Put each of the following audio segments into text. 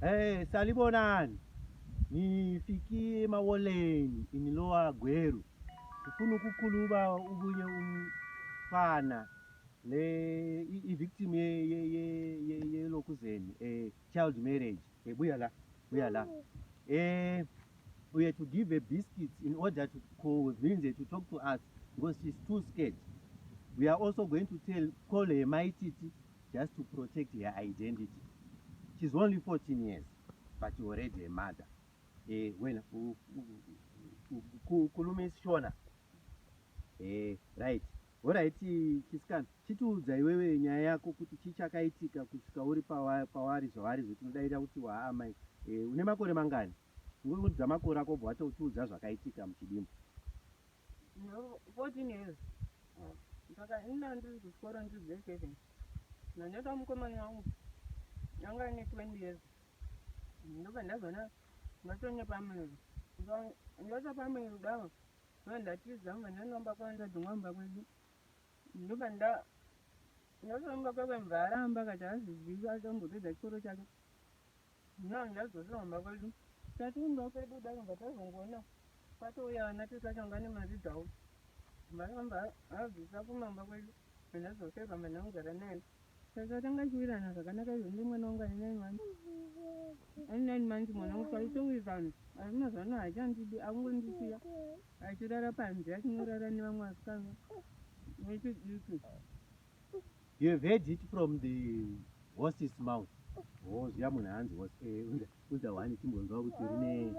Hey, salibonani nifikie mawoleni inilowa gweru ndifuna ukukhuluma ubunye umfana le i-victim yelokuzeni ye, ye, ye, ye, child marriage hey, buya la buya la eh, we had to give her biscuits in order to convince her to talk to us because she's too scared we are also going to tell call her maititi just to protect her identity she's only 14 years but already a mother eh, wena kulume isishona eh, right horait chisikana chitiudza iwewe nyaya yako kuti chii chakaitika kusvika uri pawari zvavari zvetinodaira kuti waamai eh, une makore mangani ngokudza makore ako bva watotiudza zvakaitika muchidimbu 14 years saka ina ndiri kuchikoro ndiri grade seven ndanyota mukomana wangu anga ane 20 years ndobva ndazoona ndatonya pamuviri ndota pamuviri kudavo ndoa ndatiza mva ndanomba kwavo ndadzingwa mumba kwedu ndobva nda ndotoomba kwekwe mva aramba kati hazizivi atombopedza chikoro chake Now ndazorira kumba kwedu tati kumba kwedu kudaro bva tazongoona kwatouya ana tete acho anga ane mari dzavo vakamba abvisa kumamba kwedu andazoseva mwana anogara naye saka tanga chiwirana zvakanaka izvo ndi mwana wangu ane nine months ane nine months mwana wangu paitowirirana asi mazuva ano haachandidi akungondisiya achirara panze achinorara nevamwe vasikana vechidiki You have heard it from the horse's mouth. Oh, zviya munhu hanzi horse eh unza unza wani timbonzwa kuti rine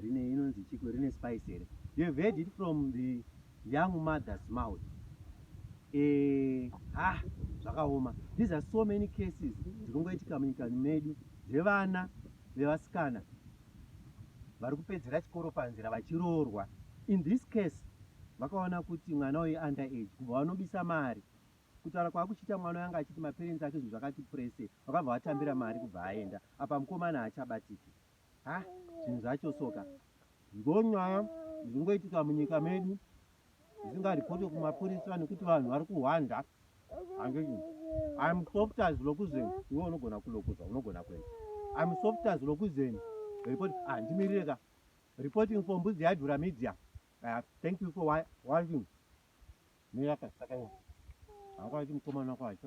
rine inonzi chiko rine spice here. You have heard it from the young mother's mouth. Eh, ha, ah, zvakaoma. These are so many cases dzinongoitika munyika medu dzevana vevasikana vari kupedzera chikoro panzira vachiroorwa in this case vakaona kuti mwana uyu under age kubva vanobisa mari kutaura kwaakuchiita mwana uyo anga achiti maparents ake zvinhu zvakati prese vakabva vatambira mari kubva aenda apa mukomana haachabatiki ha zvinhu zvacho soka ndonyaya zvingoitika munyika medu ndingaripoti kumapurisa nekuti vanhu vari kuhwanda handii im softas lokuzeni iwe unogona kulokuza unogona kuenda im softas lokuzeni report handimirire ah, ka reporting for mbuzi yadhura media uh, thank you for watching miraka saka hangu aiti mukomana kwacho